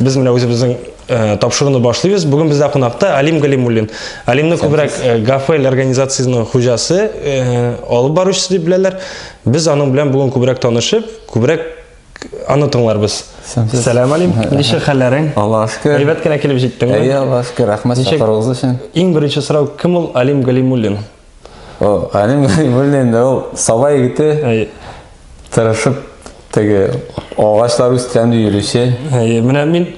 Без менә үзебезнең э, тапшыруны башлыйбыз. Бүген бездә кунакта Алим Галимуллин. Алимны күбрәк э, Гафель организациясенең хуҗасы, э, алып баручысы дип беләләр. Без аның белән бүген күбрәк танышып, күбрәк аны тыңларбыз. Сәлам Алим, ничек хәлләрең? Аллаһ шөкер. Әйбәт кенә килеп җиттеңме? Әйе, Аллаһ шөкер. Рәхмәт чакыруыгыз өчен. Иң беренче сорау, кем ул Алим Галимуллин? О, анем белән инде ул саба егете. Әйе. Тырышып теге агачлар үскән ди йөрүче. Әйе, менә мин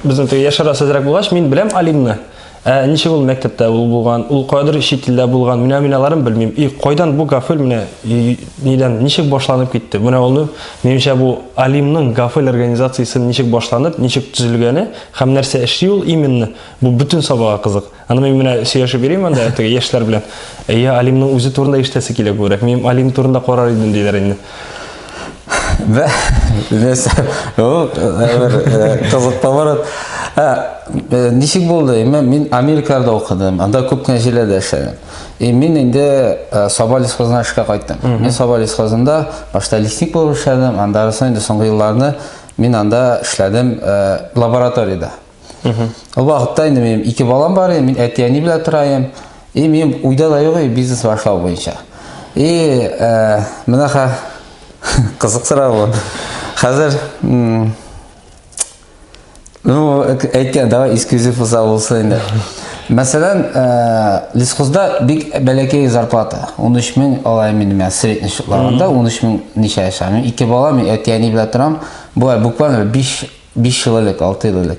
безнең теге яшәрә сәзрәк булгач, мин беләм Алимны. Ә ничек ул мәктәптә ул булган, ул кадәр чит илдә булган, менә мин аларын белмим. И кайдан бу гафел менә нидән ничек башланып китте? Менә аны минемчә бу Алимның гафел организациясен ничек башланып, ничек төзелгәне һәм нәрсә эшли ул именно, бу бөтен сабага кызык. Аны мин менә сөйләшеп йөрим анда теге яшьләр белән. Әйе, Алимның үзе турында ишетәсе килә күбрәк. Мин Алим турында карар идем диләр инде. Бә, нәрсә? Ул бер кызык поворот. Ничек булды? Мин Америкада укыдым. Анда күп кенә җилләрдә эшләдем. И мин инде Саба лесхозына эшкә кайттым. Мин Саба лесхозында башта лесник булып эшләдем, андарысын инде соңгы елларны мин анда эшләдем лабораториядә. Ул вакытта инде минем ике балам бар, мин әти-әни белән торам. И минем уйда да юк бизнес башлау буенча. И э, менә ха кызык сорау. Хәзер Ну, әйткән, давай эксклюзив булса булсын инде. Мәсәлән, э, лесхозда бик бәләкәй зарплата. 13 мең алай минем я средний счетларында 13 мең ничә яшәм. Ике бала, мин әти-әни белән торам. Болай буквально 5 5 ел элек, 6 ел элек.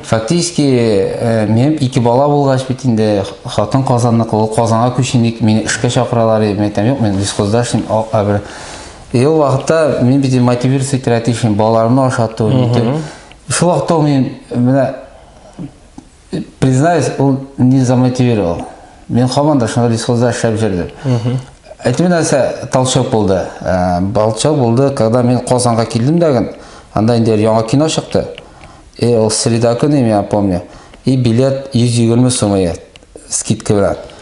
Фактически, э, минем ике бала булгач бит инде хатын Казанныкы, ул Казанга күчен дип мине эшкә чакыралар иде. Мин әйтәм, юк, мин лесхозда эшлим, а- а бер. И ул вакытта мин бит мотивировать итәргә тиешмен, балаларымны ашату, нитү. Шул вакытта ул мин менә Признаюсь, ул не замотивировал. Мин хаман да шуны лесхозда эшләп җөрдем. Әйтү нәрсә толчок булды. Э, толчок булды, когда мин Казанга килдем дәген, анда инде яңа кино чыкты. И э, ул среда көне, я помню. И билет 120 сумы скидка белән.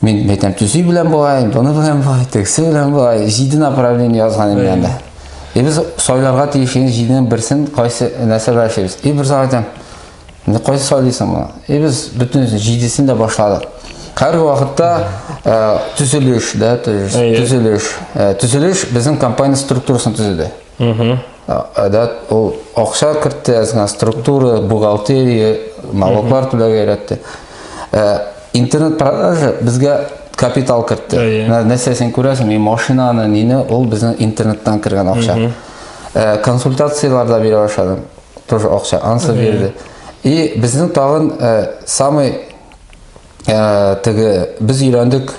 Мин әйтәм, төзи белән болай, буны белән болай, тегесе белән болай, җиде направление язган инде анда. И без сайларга тиеш инде җиденең берсен кайсы нәрсәгә эшлибез. И бер зат әйтәм, инде кайсы сайлыйсың моны? И без бөтен җидесен дә башладык. Хәзерге вакытта төзелеш, да, төзелеш, төзелеш безнең компания структурасын төзеде. Әдә ул акча кертте, әзгә структура, бухгалтерия, налоглар түләгә өйрәтте. Ә, интернет продажа безгә капитал кертте. Ә, нәрсә син күрәсең, мин машинаны, нине, ул безнең интернеттан кергән акча. Ә, консультацияләр дә бирә башладым. Тоже акча, ансы бирде. И безнең тагын ә, самый ә, теге, без өйрәндек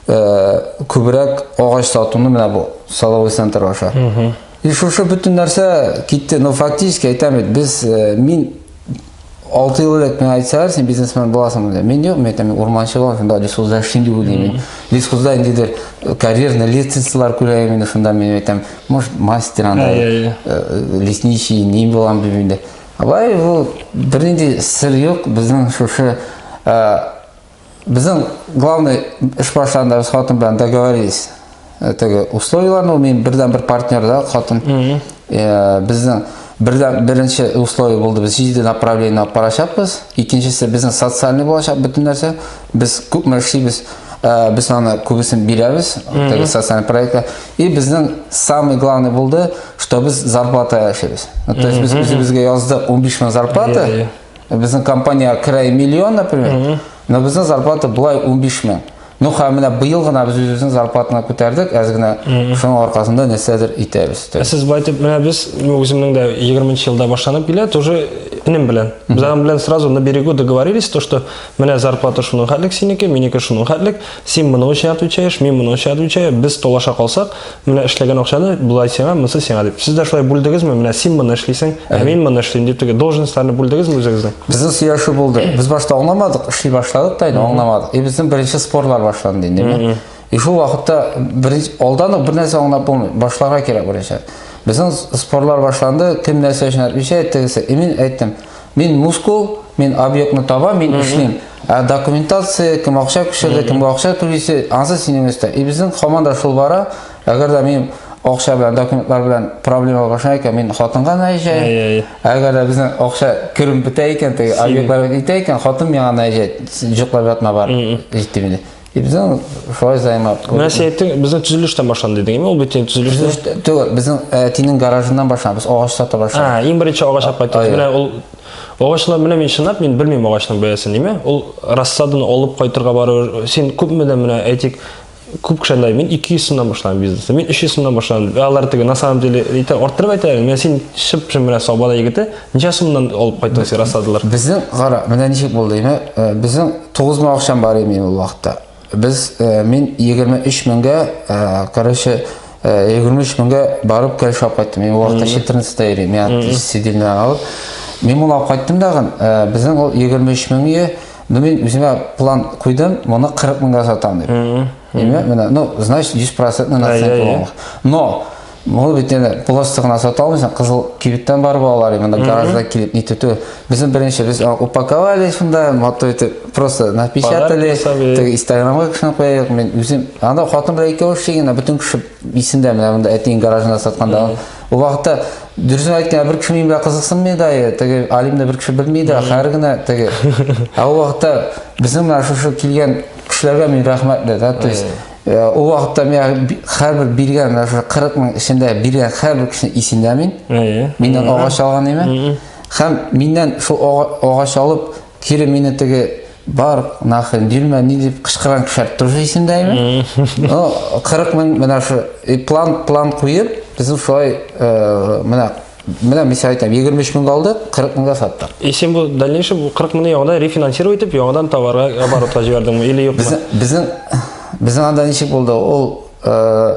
э, күбрәк агач сатуны менә бу саловый центр аша и шушы бөтен нәрсә китте но фактически әйтәм бит без э, мин алты ел элек миңа әйтсәләр син бизнесмен буласың дип мин юк мен әйтәм мин урманчы булам шунда лесхозда эшлим дип уйлыйм мин лесхозда ниндидер э, карьерный лестницалар күрәм инде шунда мен әйтәм может мастер андай лесничий ни булам дип инде Абай, бу бернинди сер юк, безнең шушы Безнең главный эш барышында без хатын белән договорились. Э, теге условияләрне, мин бердән бер партнер да хатын. Э, безнең бердән беренче условие булды, без җиде направление алып барачакбыз. Икенчесе безнең социальный булачак бөтен нәрсә. Без күпме эшлибез, э, без аны күбесен бирәбез, теге социальный проектка. И безнең самый главный булды, что без зарплата эшлибез. То есть без үзебезгә яздык 15 мең зарплата. Безнең компания керәй миллион, например, но безнең зарплата былай 15 мең. Ну, һәм менә быел гына без үзебезнең зарплатаны күтәрдек, әз генә шуның аркасында нәрсәдер итәбез. Ә сез байтып, менә без, ну, үземнең дә 20 елда башланып килә, тоже энем белән. Без аның белән сразу на берегу договорились, то, что Менә зарплата шуның хәтлек синеке, минеке шуның хәтлек. Син моның өчен отвечаешь, мин моның өчен отвечаю. Без талаша калсак, менә эшләгән акчаны болай сиңа, монысы сиңа дип. Сез дә шулай бүлдегезме? Менә син моны эшлисең, ә мин моны эшлим дип теге должностьларны бүлдегезме үзегезнең? Безнең сөйләшү булды. Без башта аңламадык, эшли башладык та инде аңламадык. И безнең беренче спорлар башланды инде. И шул вакытта беренче алдан ук бернәрсә аңлап булмый. Башларга кирәк беренче. Безнең спорлар башланды, кем нәрсә өчен отвечает, тегесе. И мин әйттем, Мин мускул, мин объектны таба, мин эшлим. Ә документация, кем акча күчерде, кемгә акча түлисе, ансы синең өстә. И безнең команда шул бара. Әгәр дә мин акча белән, документлар белән проблема баша икән, мин хатынга наезжай. Әгәр дә безнең акча керем бетә икән, теге объектлар бетә икән, хатын миңа наезжай, җоклап ятма бар. Җитте мине. И біздің солай займап. Менә сен әйттең, безнең төзелештән башлан дидең, ме? Ул бит инде төзелештә. Түгел, безнең әтинең гаражыннан башлан, без агач сата башлап. А, иң беренче агач алып кайттык. Менә ул агачлар менә мин чынлап мин белмим агачның бәясен, диме? Ул рассаданы алып кайтырга бару. Син күпме дә менә әйтик, күп кеше андай, мин 200 сумнан башлам бизнесны, мин 300 сумнан башлам. Алар теге на самом деле әйтә, арттырып әйтә, менә син шып-шым менә сабада егете, Ничә сумнан алып кайттың син рассадалар? Безнең, кара, менә ничек булды име? Э, безнең 9 мең акчам бар име ул вакытта. Без э, мин 23 меңгә, э, короче, 23 меңгә барып кәл шап кайттым. Мин вакытта 14 та йөрим. Я сидимне алып. Мин моны алып кайттым дагын. Безнең ул 23 меңгә Ну мин үземә план куйдым, моны 40 меңгә сатам дип. Име, менә, ну, значит, 100% наценка. Но Бу бит инде просто гына сата алмыйсың, кызыл кибеттән барып алалар, именно гаражда килеп нитү түгел. Безнең беренче без а, упаковали шунда, матур итеп, просто напечатали, Подарки сабый. теге инстаграмга кешене куяйык, мен үзем, анда хатын белән икәү эшли генә, бөтен кеше исендә, менә монда әтиң гаражында сатканда. Ул вакытта дөресен әйткәндә бер кеше минем белән кызыксынмый да, е, теге Алимне бер кеше белми дә, хәер генә теге. Ә ул вакытта безнең менә шушы килгән кешеләргә мин рәхмәтле, да, то есть Ул вакытта миңа һәрбер биргән, шул 40 мең эчендә биргән һәрбер кешене исендә мин. Миннән агач алган име? Һәм миннән шул агач алып, кире мине теге бар, нахрен, бирмә, ни дип кычкырган кешеләр тоже исендә име? Ну, 40 мең менә шул план, план куеп, безнең шулай менә Менә мин сәгать 23 меңгә алдык, 40 меңгә саттык. И син бу дальнейший бу 40 меңне яңадан рефинансировать итеп, яңадан товарга оборотка җибәрдеңме или юкмы? Безнең безнең безнең анда ничек булды? Ул э,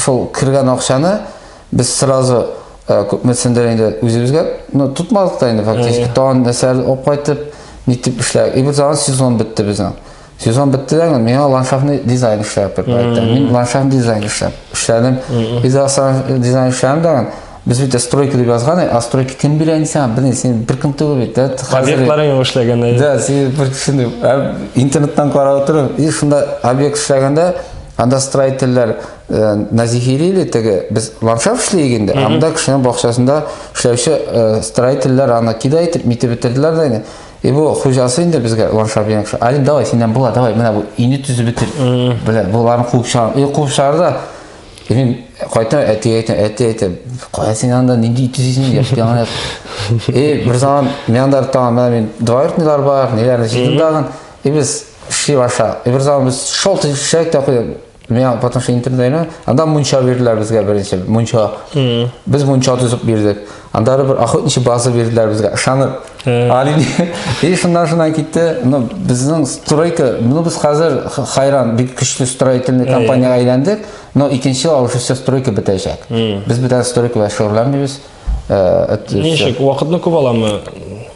шул кергән акчаны без сразу э, күпмесендер инде үзебезгә, ну тотмадык та инде фактически. Тагын нәрсәләр алып кайтып, нитеп эшләдек. И бу сезон бетте безнең. сезон беттеләр инде миңа ландшафтный дизайн эшләп дип әйтте мин ландшафт дизайн эшләп эшләдем без дизайн эшләдем да без бит стройка дип язган а стройка кем бирә инде сиңа белмим син бер кем түгел бит да объектларың юк эшләгән да син бер кешене интернеттан карап утырып и шунда объект эшләгәндә анда строительләр э, назихили или теге без ландшафт эшләйек инде анда кешенең бакчасында эшләүче э, строительләр аны кидай итеп митеп бетерделәр да инде И бу хуҗасы инде безгә Иван Шабиянов, Алим, давай, синнән була, давай, менә бу өйне төзеп бетер. Белә, боларны куып чыгар. Өй куып чыгар да. И мин кайтам, әтигә әйтәм, әти әйтәм, кая син анда нинди өй төзисең, яшь яңа. И бер заман мин анда тагын менә мин двоюродныйлар бар, ниләрне җыйдым тагын. И без шли баша. И бер заман без шел төшәк тә куйдык. Миңа потому что интернетта анда мунча бирделәр безгә беренче. Мунча. Без мунча төзеп бирдек. Анда бер охотничий база бирделәр безгә. Ышанып. Али. И шуннан шуннан китте. Ну, безнең стройка, ну без хәзер хайран бик көчле строительный компанияга әйләндек, но икенче ел уже все стройка бетәчәк. Без бүтән стройка белән шөгыльләнмибез. ничек вакытны күп аламы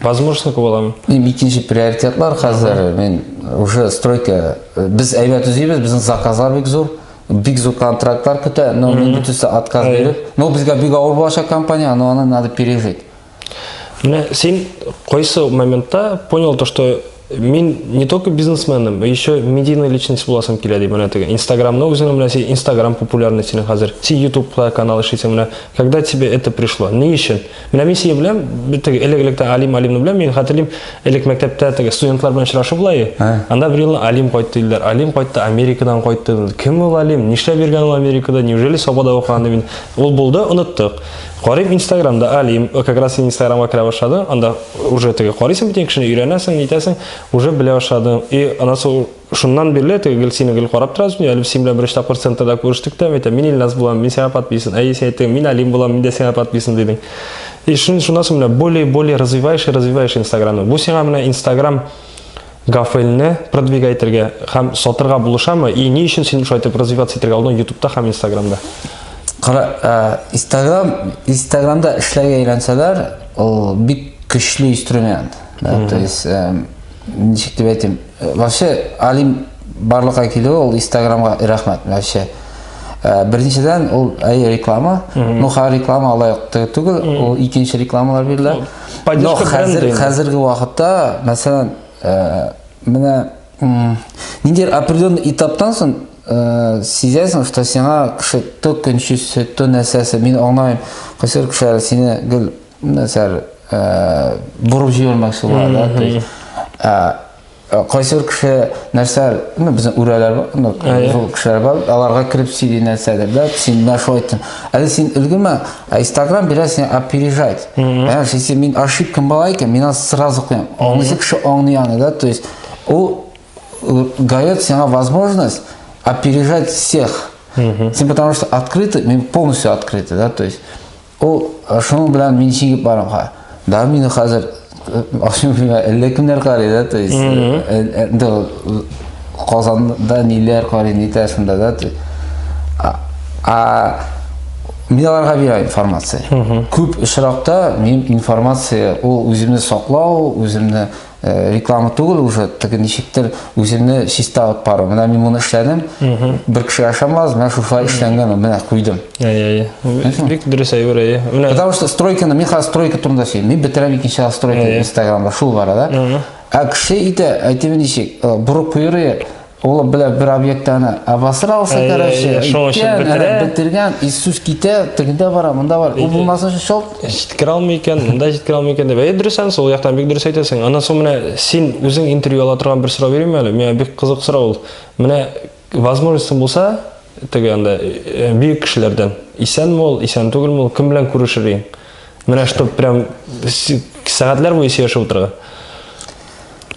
возможностьны күп аламы эми экинчи приоритетлар хәзер мен уже стройка без әйбәт төзибез безнең заказлар бик зур бик зур контрактлар көтә но мин бөтенесе отказ биреп но безгә бик авыр булачак компания но аны надо пережить менә син кайсы моментта понял то что Мин не только бизнесменым, еще медийный личность буласым килә ди менә теге. Инстаграмны үзеңнең менә син Инстаграм популярный синең хәзер. Син Ютубта канал эшлисең менә. Когда тебе это пришло? Ни өчен? Менә мин сине беләм, теге элек-электә Алим Алимны беләм, мин хәтерлим, элек мәктәптә теге студентлар белән очрашу була и. Анда бер елны Алим кайтты диләр. Алим кайтты, Америкадан кайтты. Кем ул Алим? Нишләп йөргән ул Америкада? Неужели Сабада укыган ди мин. Ул булды, оныттык. Карыйм инстаграмда алим, как раз син инстаграмга керә башладың, анда уже теге карыйсың бит кешене, өйрәнәсең, нитәсең, уже белә башладың. И анасы шуннан бирле теге гел сине гел карап торабыз, мин әле син белән беренче тапкыр центрда күрештек тә, әйтә, мин Илназ булам, мин сиңа подписан. Әй син әйттең, мин алим булам, мин дә сиңа подписан дидең. И шун шуннан соң менә более более развиваешь и развиваешь инстаграмны. Бу сиңа менә инстаграм Гафелне продвигай итергә һәм сатырга булышамы? И ни өчен син шулай итеп развиваться итергә алдың ютубта һәм инстаграмда? Кара, инстаграм, инстаграмда эшләргә өйрәнсәләр, ул бик көчле инструмент. Да, то есть, ничек дип әйтим, вообще Алим барлыкка килүе ул инстаграмга рәхмәт вообще. Э, беренчедән ул әйе реклама ну ха реклама алай түгел ул икенче рекламалар бирелә Но хәзер, хәзерге вакытта, мәсәлән, э, менә нинди определенный этаптан соң э, сизәсең, что сиңа кеше то көнче сөт, то нәрсәсе, мин аңлаймын, кайсыр кешеләр сине гел нәрсәләр э, борып җибәрмәкче була, да, то есть, э, Э, кайсы бер кеше нәрсә ну безнең үрәләр ну зур кешеләр бар аларга кереп сөйли нәрсәдер да син менә шулай айттың әле син өлгермә ә инстаграм бирә сине опережать ә если мин ошибкам бала икән мин аны сразу куям аңлыйсы кеше аңлый аны да то есть ул э, дает сиңа возможность опережать всех син потому что открытый мин полностью открытый да то есть Ул шуның белән мин чигеп барамга. Да мин хәзер ашым белән әллә кемнәр карый да, то есть инде э, э, Казанда ниләр карый, нитә шунда да. А мин аларга бирә информация. Күп очракта мин информация ул үземне саклау, үземне Э, реклама түгел уже теге ничектер үземне чиста алып бару менә мин моны эшләдем бер кеше ашамас менә шушылай эшләнгән менә куйдым бик дөрес әйбер әйе потому что стройканы мин хәзер стройка турында сөйлим мин бетерәм икенче ел стройка инстаграмда шул бара да ә кеше әйтә әйтеме ничек э, борык куеры Олы белә бер объектаны обосрался, Әй, короче. әй, шуның өчен үткән, бетерә. ана, Бетергән, и сүз китә, тегендә бара, монда бар. Ул булмаса өчен шалт. Җиткерә алмый икән, монда җиткерә алмый икән дип. Әйе, дөрес анысы, ул яктан бик дөрес әйтәсең. Аннан соң менә син үзең интервью ала торган бер сорау бирим әле. Миңа бик кызык сорау ул. Менә возможностьң булса, теге анда э, бөек кешеләрдән, исәнме ул, исән түгелме ул, кем белән күрешер идең? Менә чтоб прям с- сәгатьләр буе сөйләшеп утырырга.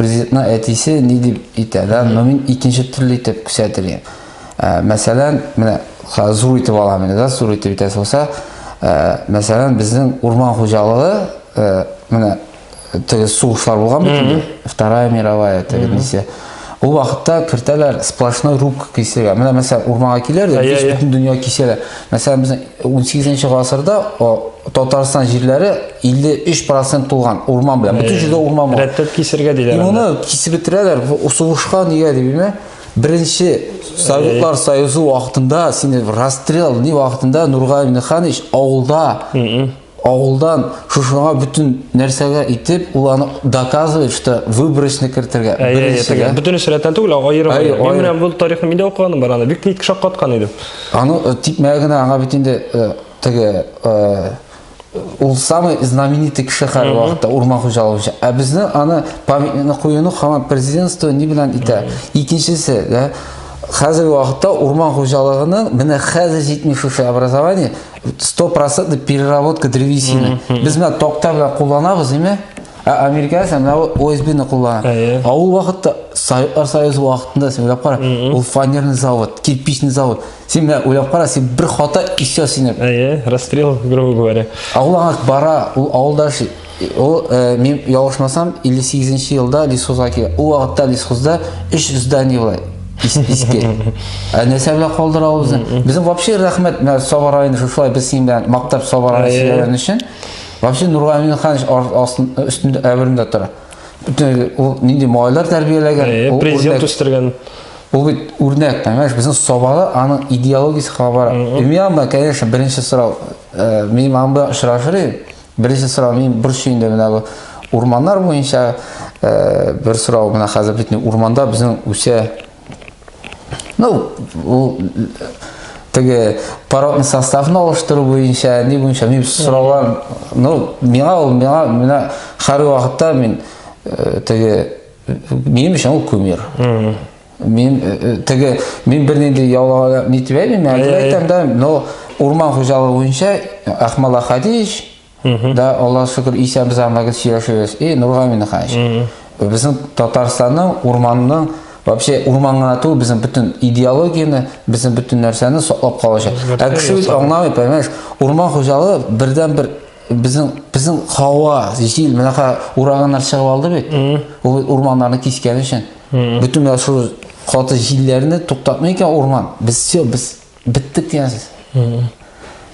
Президентның әтисе ни дип әйтә, да, но мин икенче төрле итеп күрсәтер идем. Ә, мәсәлән, менә хәзер зур итеп алам инде, да, зур итеп әйтәсе булса, ә, мәсәлән, безнең урман хуҗалыгы, ә, менә теге сугышлар булган бит инде, Вторая мировая теге миссия. Ул вакытта кертәләр сплошной рубка кисергә. Менә мәсәлән, урманга киләләр, дә, Әйе, бөтен әйе. дөнья кисәләр. Мәсәлән, безнең 18-нче гасырда Татарстан җирләре 53% тулган урман белән. Бөтен җирдә урман бар. Рәттәп кисергә диләр. И моны кисеп бетерәләр. Сугышка нигә дип белмә. Беренче Советлар Союзы вакытында сине расстрел ни вакытында Нургали Минханович авылда Авылдан шушыңа бөтен нәрсәгә итеп, ул аны доказывает, что выбросны кертергә. Беренчегә. Бөтен сәләттән түгел, аерым. Әй, Мин менә бу тарихны миндә укыганым бар аны. Бик тик шаккаткан идем. Аны э, тик менә генә аңа бит инде э, теге э, ул самый знаменитый кеше хәзерге вакытта урман хуҗалыгы өчен. Ә безне аны памятникны куюны хаман президентство ни белән итә? Икенчесе, да, хәзерге вакытта урман хуҗалыгының менә хәзер җитми шушы образование сто процентный переработка древесины без мына токта белән кулланабыз әйме ә америка исә мына осбны куллана ә ул вакытта советлар союзы вакытында син уйлап кара ул фанерный завод кирпичный завод син менә уйлап кара син бер хата и все сине әйе расстрел грубо говоря а ул аңа бара ул авылда яши Ул, э, мин ялгышмасам, 58 нче елда лесхозга килгән. Ул вакытта лесхозда өч здание була. Иске. Ә нәрсә белән калдыра ул безне? Безнең вообще рәхмәт, менә Саба районы шушылай без синең белән мактап Саба районы сөйләгән өчен. Вообще Нургамин Ханович өстендә әберендә тора. Бөтен ул нинди малайлар тәрбияләгән, президент үстергән. Ул бит үрнәк, понимаешь, безнең Сабада аның идеологиясе кабара. Имя, конечно, беренче сорау. Э, мин анда очрашыр идем. Беренче сорау мин борчу инде менә бу урманнар буенча э, бер сорау менә хәзер бит урманда безнең үсә ну ул теге породный составны алыштыру буенча ни буенча мин сораулар ну миңа ул миңа менә һәр вакытта мин э, теге минем өчен ул кумир Мин э, э, теге мин бернинди яулага ни дип әйтмим, әйтеп әйтәм дә, но урман хуҗалыгы буенча Ахмала Хадич да Алла шөкер исән без анда гел сөйләшәбез. И Нургамин хаҗ. Безнең Татарстанның урманның вообще урманга ату безнең бөтен идеологияне, безнең бөтен нәрсәне саклап калачак. Ә кеше бит аңламый, понимаешь? Урман хуҗалыгы бердән бер Безнең безнең һава, җил мынака ураганнар чыгып алды бит. Ул урманнарны кискән өчен. Бөтен менә шул каты җилләрне туктатмый икән урман. Без все, без биттек дигәнсез.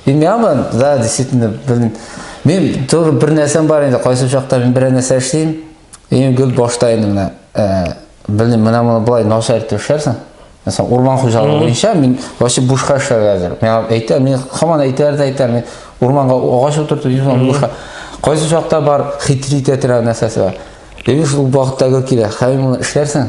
Белмәмен, да, действительно, белмим. Мин тоже бер нәрсәм бар инде, кайсы чакта мин берәр нәрсә эшлим. Иң гел башта инде менә, белмим, менә моны болай начар итеп эшләрсең. Мәсәлән, урман хуҗалыгы буенча мин вообще бушка эшләргә әзер. Миңа әйтә, мин хаман әйтәр дә әйтәр, мин урманга агач утыртып йөрсәм бушка. Кайсы чакта бар хитрит әтирә нәрсәсе бар. Ләкин шул вакытта гел килә. Хәй моны эшләрсең.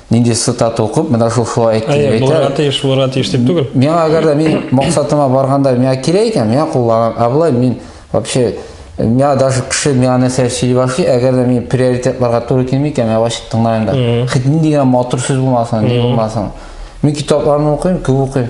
нинди цитата укып менә шул шулай әйтте дип әйтә булырга тиеш булырга тиеш дип түгел миңа әгәр дә мин максатыма барганда миңа кирәк икән миңа кулланам ә болай мин вообще миңа даже кеше миңа нәрсә сөйли башлый әгәр дә мин приоритетларга туры килми икән мин ачып тыңламыйм да хоть нинди генә матур сүз булмасын ни булмасын мин китапларны укыйм күп укыйм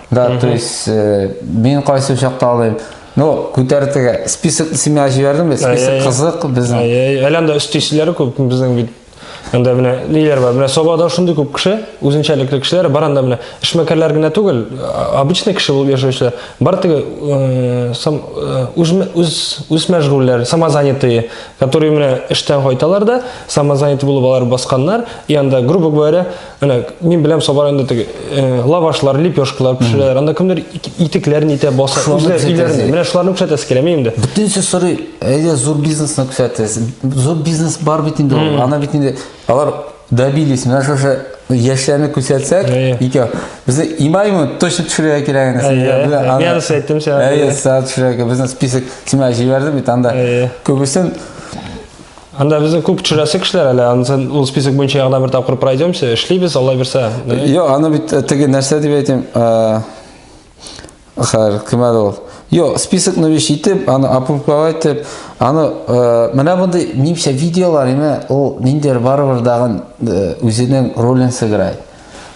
Да, то есть э, мин кайсы учакта алыйм. Ну, күтәртегә список син миңа җибәрдең бит, Ай, ай, список ай. кызык безнең. Ай, ай, әле анда өстисезләре күп безнең бит. Анда менә ниләр бар? Менә Сабада шундый күп кеше, үзенчәлекле кешеләр бар анда менә. Эшмәкәрләр генә түгел, а- обычный кеше булып яшәүчеләр. Бар теге э, сам э, үзмә- үз үз мәшгульләр, самозанятые, которые менә эштән кайталар да, самозанятый булып алар басканнар, и анда грубо говоря, Менә мин беләм Сабар инде теге э, лавашлар, лепешкалар пешерәләр. Анда кемдер итекләрен итә, баса, үзләр өйләрендә. Менә шуларны күрсәтәсе килә мин инде. Бөтенесе сорый, әйдә зур бизнесны күрсәтәс. Зур бизнес бар бит инде ул. Ана бит инде алар добились. Менә шушы яшьләрне күрсәтсәк, икәү. Безне имаймы точно төшерергә кирәк инде. Мин аны әйттем сиңа. Әйе, сәгать төшерергә. Безне список сиңа җибәрде бит анда. Күбесен Анда безнең күп төшерәсе кешеләр әле, ансын ул список буенча ягына бер тапкыр пройдемся, эшлибез, Алла бирсә. Йо, аны бит э, теге нәрсә дип әйтим. Э, Хәр, кем әле ул? Йо, списокны биш итеп, аны опубликовать итеп, аны э, менә мондый нимчә видеолар име, ул ниндер барыбер дагын үзенең ролен сыграй.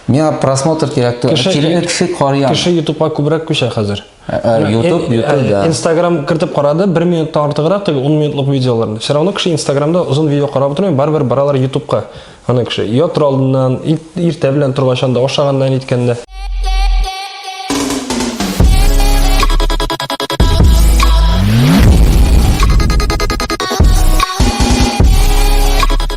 Миңа просмотр кирәк түгел. Кеше кеше карый. Кеше YouTube-га күбрәк күчә хәзер. Ютуб, э, э, Ютуб, э, да. Инстаграм кертеп карады, бер минуттан артыграк, теге 10 минутлык видеоларны. Все равно кеше Инстаграмда озын видео карап утырмый, барыбер баралар Ютубка. Аны кеше ятыр алдыннан, иртә белән торгачан да, ашаганнан иткәндә.